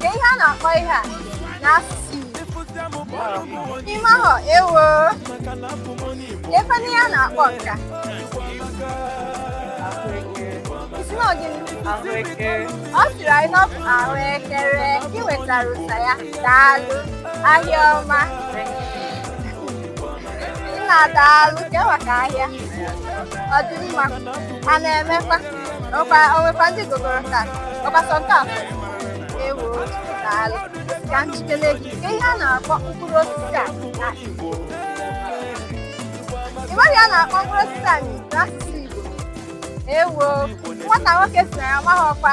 Kee ihe a na-akpọ ihe a n'asụsụ Igbo. Ị mahụ ewo kee ihe a na-akpọ nke a. Ị sị na ọ gịnị? Ọ sịrị anyị na ọ bụ ahụekere i nwetara ụsa ya daalụ ahịa ọma. Nna daalụ kee maka ahịa. Ọ dị mma. A na-emekwa. ọkwa o nwekwa ndị gogoro taa ọkwa sọ nke afọ ewo daalụ ka m jụkele gị kee ihe a na-akpọ mkpụrụ osisi a na Igbo ị maghị ihe a na-akpọ mkpụrụ osisi a n'asụsụ Igbo ewo nwata nwoke si na ya amaghịkwa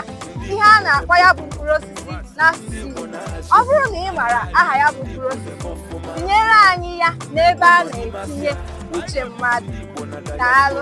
ihe a na-akpọ ya bụ mkpụrụ osisi n'asụsụ Igbo ọ bụrụ na ị maara aha ya bụ mkpụrụ osisi tinyere anyị ya n'ebe a na-etinye uche mmadụ daalụ